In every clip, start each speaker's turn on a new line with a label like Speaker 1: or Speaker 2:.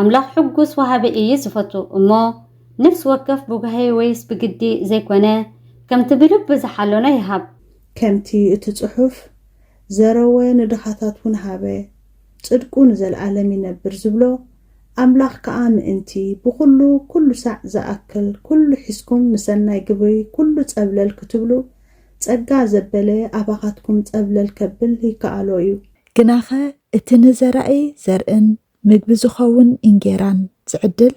Speaker 1: ኣምላኽ ሕጉስ ወሃቢ እዪ ዝፈቱ እሞ ነፍሲ ወከፍ ብጓሂ ወይስ ብግዲ ዘይኮነ ከምቲ ብልቡ ዝሓለኖ ይሃብ። ከምቲ እቲ
Speaker 2: ጽሑፍ ዘረወ ንድኻታት ውን ሃበ ጽድቁ ንዘልኣለም ይነብር ዝብሎ ኣምላኽ ከኣ ምእንቲ ብኹሉ ኩሉ ሳዕ ዝኣክል ኩሉ ሒዝኩም ንሰናይ ግብሪ ኩሉ ጸብለል ክትብሉ ጸጋ ዘበለ ኣባኻትኩም ጸብለል ከብል ይከኣሎ እዩ። ግናኸ
Speaker 3: እቲ ንዘራኢ ዘርእን ምግቢ ዝኸውን እንጌራን ዝዕድል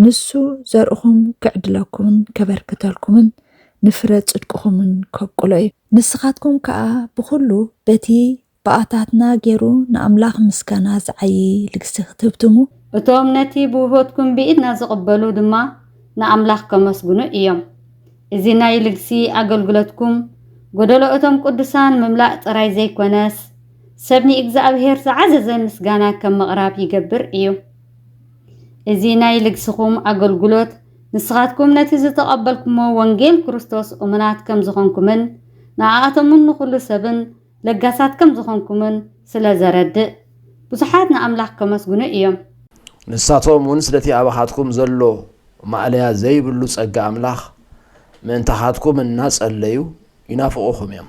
Speaker 3: ንሱ ዘርእኹም ኪዕድለኩምን ኬበርክተልኩምን ንፍረ ጽድቅኹምን ከብቍሎ እዩ። ንስኻትኩም ከኣ ብዅሉ በቲ ብኣታትና ገይሩ ንኣምላኽ ምስጋና ዚዓዪ ልግሲ ኽትህብትሙ፣ እቶም ነቲ
Speaker 1: ብውህበትኩም ብኢድና ዚቕበሉ ድማ ንኣምላኽ ከመስግኑ እዮም። እዚ ናይ ልግሲ ኣገልግሎትኩም፣ ጐደሎ እቶም ቅዱሳን ምምላእ ጥራይ ዘይኰነስ፣ ሰብ ንእግዝኣብሄር ዝዓዘዘ ምስጋና ከም ምቕራብ ይገብር እዩ። እዚ ናይ ልግስኹም ኣገልግሎት ንስኻትኩም ነቲ ዝተቐበልኩሞ ወንጌል ክርስቶስ እሙናት ከም ዝኾንኩምን ንኣኣቶምን ንኹሉ ሰብን ለጋሳት ከም ዝኾንኩምን ስለ ዘረድእ ብዙሓት ንኣምላኽ ከመስግኑ እዮም። ንሳቶም
Speaker 4: እውን ስለቲ ኣባኻትኩም ዘሎ ማእለያ ዘይብሉ ጸጋ ኣምላኽ ምእንታኻትኩም እናጸለዩ ይናፍቑኹም እዮም።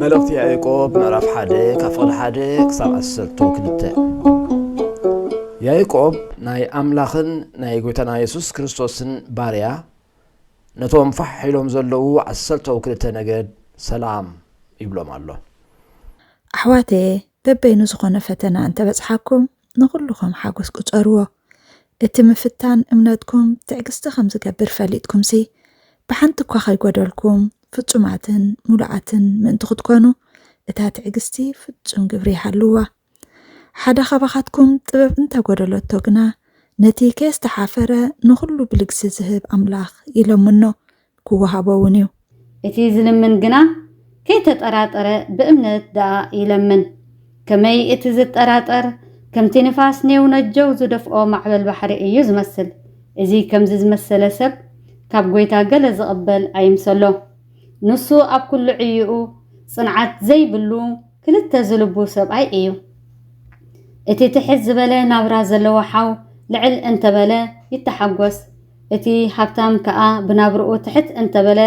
Speaker 4: መልእኽቲ ያእቆብ ምዕራፍ ሓደ ካብ ፍቕዲ ሓደ ክሳብ ዓሰርቶ ክልተ ያእቆብ ናይ ኣምላኽን ናይ ጎይታና የሱስ ክርስቶስን ባርያ ነቶም ፋሕ ኢሎም ዘለዉ ዓሰርተው ክልተ ነገድ ሰላም ይብሎም ኣሎ
Speaker 3: ኣሕዋተየ በበይኑ ዝኾነ ፈተና እንተበጽሓኩም ንኹሉ ኸም ሓጐስ ቍጸርዎ። እቲ ምፍታን እምነትኩም ትዕግስቲ ኸም ዚገብር ፈሊጥኩምሲ፣ ብሓንቲ እኳ ኸይጐደልኩም፣ ፍጹማትን ምሉኣትን ምእንቲ ኽትኰኑ፣ እታ ትዕግስቲ ፍጹም ግብሪ ይሃልዋ። ሓደ ኻባኻትኩም ጥበብ እንተ ጐደለቶ ግና፣ ነቲ ከየስተሓፈረ ንዅሉ ብልግሲ ዚህብ ኣምላኽ ይለምኖ፣ ክወሃቦ እውን እዩ። እቲ ዝልምን
Speaker 1: ግና ከይተጠራጠረ ብእምነት ደኣ ይለምን። ከመይ እቲ ዝጠራጠር ከምቲ ንፋስ ኔው ነጀው ዝደፍኦ ማዕበል ባሕሪ እዩ ዝመስል። እዚ ከምዚ ዝመሰለ ሰብ ካብ ጐይታ ገለ ዝቕበል ኣይምሰሎ። ንሱ ኣብ ኩሉ ዕይኡ ጽንዓት ዘይብሉ ክልተ ዝልቡ ሰብኣይ እዩ። እቲ ትሕት ዝበለ ናብራ ዘለዎ ሓው ልዕል እንተበለ ይተሓጐስ። እቲ ሃብታም ከኣ ብናብርኡ ትሕት እንተ በለ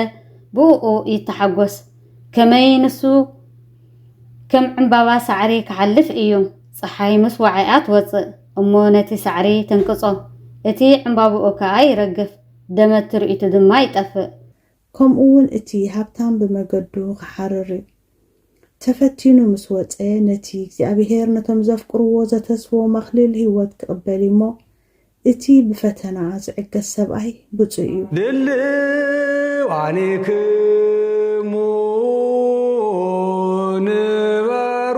Speaker 1: ብእኡ ይተሓጐስ። ከመይ ንሱ ከም ዕምባባ ሳዕሪ ኪሓልፍ እዩ። ጸሓይ ምስ ወዓኣ ትወጽእ እሞ ነቲ ሳዕሪ ተንቅጾ፣ እቲ ዕምባባኡ ከኣ ይረግፍ፣ ደመት ትርኢቱ ድማ ይጠፍእ። ከምኡ ውን
Speaker 2: እቲ ሃብታም ብመገዱ ኺሓርር እዩ። ተፈቲኑ ምስ ወጸ፣ ነቲ እግዚኣብሄር ነቶም ዘፍቅርዎ ዘተስቦም ኣኽሊል ህይወት ኪቕበል እዩ እሞ፣ እቲ ብፈተና ዚዕገስ ሰብኣይ ብጹእ እዩ።
Speaker 5: ድልዋኒክሙ ንበሩ።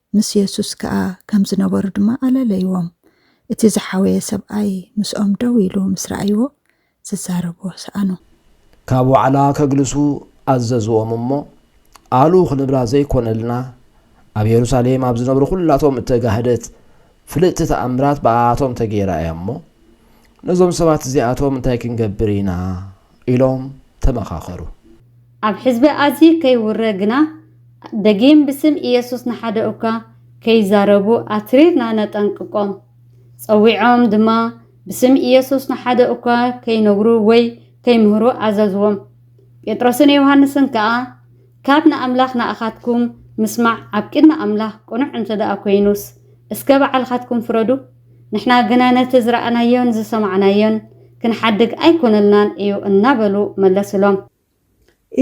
Speaker 3: ምስ የሱስ ከኣ ከም ዝነበሩ ድማ ኣለለይዎም። እቲ ዝሓወየ ሰብኣይ ምስኦም ደው ኢሉ ምስ ረኣይዎ፣ ዝዛረብዎ ሰኣኑ። ካብ
Speaker 4: ዋዕላ ከግልሱ ኣዘዝዎም እሞ፣ ኣሉ ክንብላ ዘይኮነልና፣ ኣብ የሩሳሌም ኣብ ዝነብሩ ኩላቶም እተጋህደት ፍልጥቲ ተኣምራት ብኣኣቶም ተገይራ እያ እሞ፣ ነዞም ሰባት እዚኣቶም እንታይ ክንገብር ኢና? ኢሎም ተመኻኸሩ። ኣብ
Speaker 1: ሕዝቢ ኣዝዩ ከይውረ ግና፣ ደጊም ብስም ኢየሱስ ንሓደ እኳ ከይዛረቡ ኣትሪርና ነጠንቅቆም። ጸዊዖም ድማ ብስም ኢየሱስ ንሓደ እኳ ከይነግሩ ወይ ከይምህሩ ኣዘዝዎም። ጴጥሮስን ዮሃንስን ከኣ፣ ካብ ንኣምላኽ ንኣኻትኩም ምስማዕ ኣብ ቅድሚ ኣምላኽ ቅኑዕ እንተደኣ ኮይኑስ፣ እስከ ባዕልኻትኩም ፍረዱ። ንሕና ግና ነቲ ዝረኣናዮን ዝሰማዕናዮን ክንሓድግ ኣይኰነልናን እዩ እናበሉ መለሱሎም።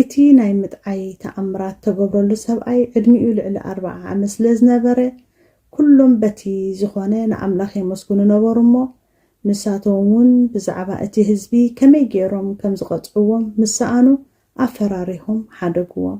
Speaker 2: እቲ ናይ ምጥዓይ ተኣምራት እተገብረሉ ሰብኣይ ዕድሚኡ ልዕሊ ኣርብዓ ዓመት ስለ ዝነበረ፣ ኵሎም በቲ ዝዀነ ንኣምላኽ የመስግኑ ነበሩ እሞ፣ ንሳቶም እውን ብዛዕባ እቲ ህዝቢ ከመይ ገይሮም ከም ዝቐጽዕዎም ምስ ሰኣኑ ኣፈራሪሆም ሓደግዎም።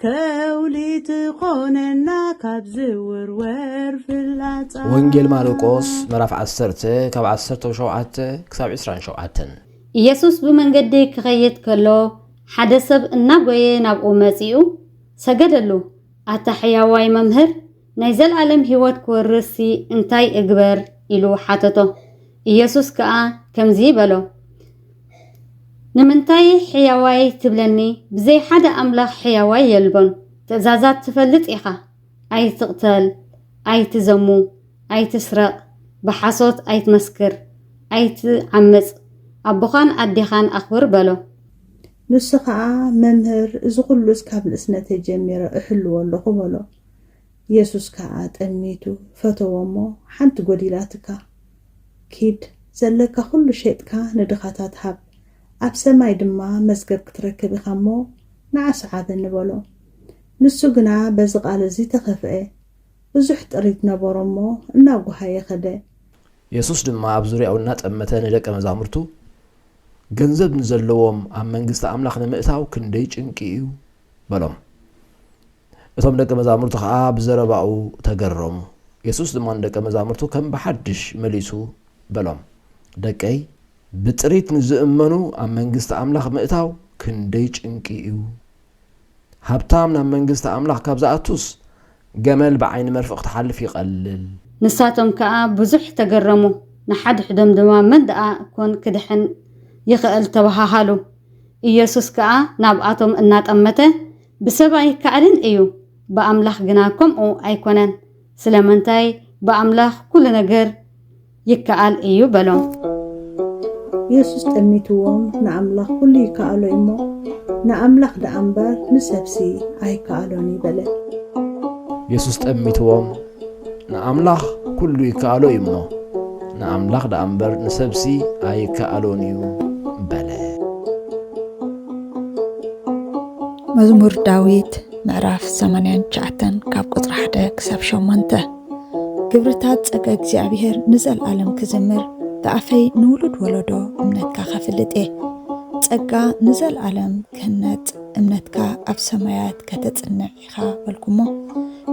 Speaker 2: ከውሊ ትኾነና ካብ ዝውርወር ፍላጻ። ወንጌል ማርቆስ
Speaker 4: ምዕራፍ ዓሰርተ ካብ ዓሰርተው ሸውዓተ ክሳብ ዕስራን ሸውዓተን። ኢየሱስ
Speaker 1: ብመንገዲ ኪኸይድ ከሎ፣ ሓደ ሰብ እናጐየ ናብኡ መጺኡ፣ ሰገደሉ፣ ኣታ ሕያዋይ መምህር፣ ናይ ዘለኣለም ህይወት ክወርስሲ እንታይ እግበር? ኢሉ ሓተቶ። ኢየሱስ ከኣ ከምዚ በሎ፣ ንምንታይ ሕያዋይ ትብለኒ? ብዘይ ሓደ ኣምላኽ ሕያዋይ የልቦን። ትእዛዛት ትፈልጥ ኢኻ፣ ኣይትቕተል፣ ኣይትዘሙ፣ ኣይትስረቕ፣ ብሓሶት ኣይትመስክር፣ ኣይትዓምጽ፣ ኣቦኻን ኣዴኻን ኣኽብር በሎ። ንሱ
Speaker 2: ኸኣ፣ መምህር፣ እዚ ኹሉስ ካብ ንእስነተይ ጀሚረ እሕልዎ ኣሎኹ በሎ። የሱስ ከኣ ጠሚቱ ፈተዎ እሞ ሓንቲ ጎዲላትካ ኪድ ዘለካ ኩሉ ሼጥካ ንድኻታት ሃብ ኣብ ሰማይ ድማ መዝገብ ክትረክብ ኢኻ እሞ ንዓ ስዓበኒ በሎ ንሱ ግና በዚ ቃል እዚ ተኸፍኤ ብዙሕ ጥሪት ነበሮ እሞ እናጎሃየ ከደ። የሱስ
Speaker 4: ድማ ኣብ ዙርያኡ እናጠመተ ንደቀ መዛሙርቱ ገንዘብ ንዘለዎም ኣብ መንግስቲ ኣምላኽ ንምእታው ክንደይ ጭንቂ እዩ በሎም እቶም ደቀ መዛሙርቲ ኸኣ ብዘረባኡ ተገረሙ። የሱስ ድማ ንደቀ መዛሙርቱ ከም ብሓድሽ መሊሱ በሎም፣ ደቀይ፣ ብጥሪት ንዚእመኑ ኣብ መንግስቲ ኣምላኽ ምእታው ክንደይ ጭንቂ እዩ! ሃብታም ናብ መንግስቲ ኣምላኽ ካብ ዚኣቱስ፣ ገመል ብዓይኒ መርፍእ ኽትሓልፍ ይቐልል። ንሳቶም ከኣ
Speaker 1: ብዙሕ ተገረሙ፣ ንሓድሕዶም ድማ፣ መን ደኣ ኰን ኪድሕን ይኽእል? ተበሃሃሉ። የሱስ ከኣ ናብኣቶም እናጠመተ፣ ብሰብ ኣይከኣልን እዩ ብኣምላኽ ግና ከምኡ ኣይኮነን ስለምንታይ ብኣምላኽ ኩሉ ነገር ይከኣል እዩ በሎም።
Speaker 2: የሱስ ጠሚትዎም ንኣምላኽ ኩሉ ይከኣሎ እዩሞ ንኣምላኽ ደኣ እምበር ንሰብሲ ኣይከኣሎን እዩ በለ።
Speaker 4: የሱስ ጠሚትዎም ንኣምላኽ ኩሉ ይከኣሎ እዩ እሞ፣ ንኣምላኽ ደኣ እምበር ንሰብሲ ኣይከኣሎን እዩ በለ።
Speaker 3: መዝሙር ዳዊት ምዕራፍ 89 ካብ ቁፅሪ 1 ክሳብ 8 ግብርታት ፀገ እግዚኣብሔር ንዘለዓለም ክዝምር ብኣፈይ ንውሉድ ወለዶ እምነትካ ከፍልጥ እየ ፀጋ ንዘለዓለም ክህነፅ እምነትካ ኣብ ሰማያት ከተፅንዕ ኢኻ በልኩሞ።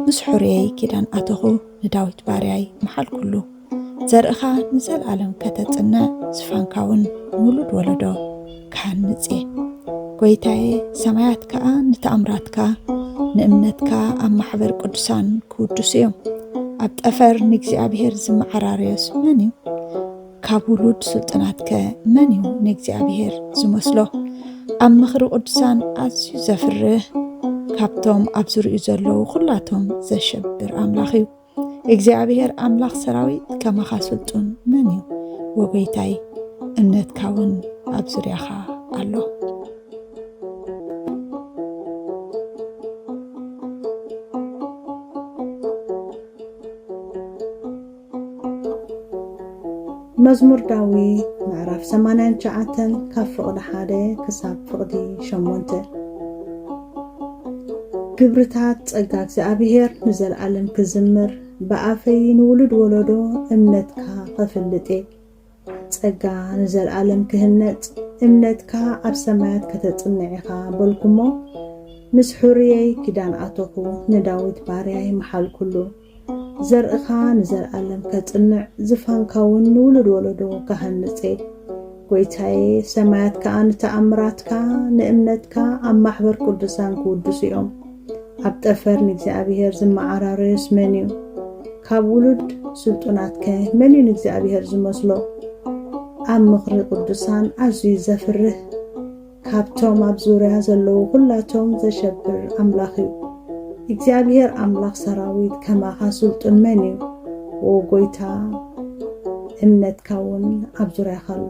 Speaker 3: ምስ ሕሩየይ ኪዳን ኣተኹ፣ ንዳዊት ባርያይ መሓልኩሉ። ዘርእኻ ንዘልኣለም ከተጽንዕ፣ ዝፋንካውን ውሉድ ወለዶ ክሃንጽ እየ። ጐይታየ፣ ሰማያት ከኣ ንተኣምራትካ፣ ንእምነትካ ኣብ ማሕበር ቅዱሳን ክውድሱ እዮም። ኣብ ጠፈር ንእግዚኣብሔር ዝመዓራረዮስ መን እዩ? ካብ ውሉድ ስልጡናትከ መን እዩ ንእግዚኣብሔር ዝመስሎ? ኣብ ምኽሪ ቅዱሳን ኣዝዩ ዘፍርህ ካብቶም ኣብ ዝርኡ ዘለዉ ኩላቶም ዘሸብር ኣምላኽ እዩ። እግዚኣብሔር ኣምላኽ ሰራዊት ከማኻ ስልጡን መን እዩ? ወጎይታይ እምነትካ እውን ኣብ ዙርያኻ ኣሎ።
Speaker 2: መዝሙር ዳዊት ምዕራፍ ሰማንያን ትሽዓተን ካብ ፍቕዲ ሓደ ክሳብ ፍቕዲ ሸሞንተ ግብርታት ጸጋ እግዚኣብሔር ንዘለኣለም ክዝምር ብኣፈይ ንውሉድ ወለዶ እምነትካ ኸፍልጥ እየ ጸጋ ንዘልኣለም ክህነጽ እምነትካ ኣብ ሰማያት ከተጽንዕ ኢኻ በልኩሞ ምስ ሑርየይ ኪዳን ኣቶኹ ንዳዊት ባርያይ መሓልኩሉ ዘርእኻ ንዘልኣለም ከጽንዕ ዝፋንካውን ንውሉድ ወለዶ ክሃንጽ'የ ጎይታየ ሰማያት ከኣ ንተኣምራትካ ንእምነትካ ኣብ ማሕበር ቅዱሳን ክውድሱ'ዮም ኣብ ጠፈር ንእግዚኣብሄር ዝመዓራረዮስ መንዩ? ካብ ውሉድ ስልጡናትከ መንዩ ንእግዚኣብሄር ዝመስሎ? ኣብ ምኽሪ ቅዱሳን ኣዝዩ ዘፍርህ፣ ካብቶም ኣብ ዙርያ ዘለዉ ዅላቶም ዘሸብር ኣምላኽዩ። እግዚኣብሄር ኣምላኽ ሰራዊት ከማኻ ስልጡን መንዩ? ዎው ጐይታ፣ እምነትካውን ኣብ ዙርያኻ ኣሎ።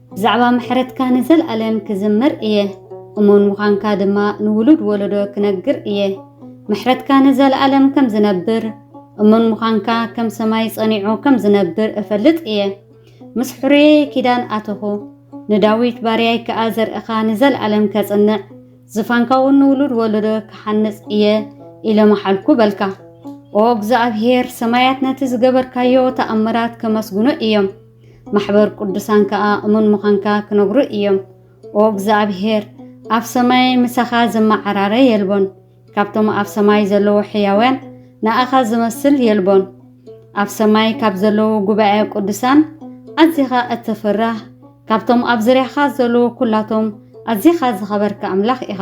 Speaker 1: ብዛዕባ ምሕረትካ ንዘልኣለም ክዝምር እየ እሙን ምዃንካ ድማ ንውሉድ ወለዶ ክነግር እየ ምሕረትካ ንዘልኣለም ከም ዝነብር እሙን ምዃንካ ከም ሰማይ ጸኒዑ ከም ዝነብር እፈልጥ እየ ምስ ሕሩየይ ኪዳን ኣተኹ ንዳዊት ባርያይ ከኣ ዘርእኻ ንዘልኣለም ከጽንዕ ዝፋንካ እውን ንውሉድ ወለዶ ክሓንጽ እየ ኢለ መሓልኩ በልካ ኦ እግዚኣብሄር ሰማያት ነቲ ዝገበርካዮ ተኣምራት ከመስግኑ እዮም ማሕበር ቅዱሳን ከኣ እሙን ምዃንካ ክነግሩ እዮም። ኦ እግዚኣብሄር፣ ኣብ ሰማይ ምሳኻ ዝመዓራረ የልቦን፣ ካብቶም ኣብ ሰማይ ዘለዉ ሕያውያን ንኣኻ ዝመስል የልቦን። ኣብ ሰማይ ካብ ዘለዉ ጉባኤ ቅዱሳን ኣዚኻ እትፍራህ፣ ካብቶም ኣብ ዙርያኻ ዘለዉ ኩላቶም ኣዚኻ ዝኸበርካ ኣምላኽ ኢኻ።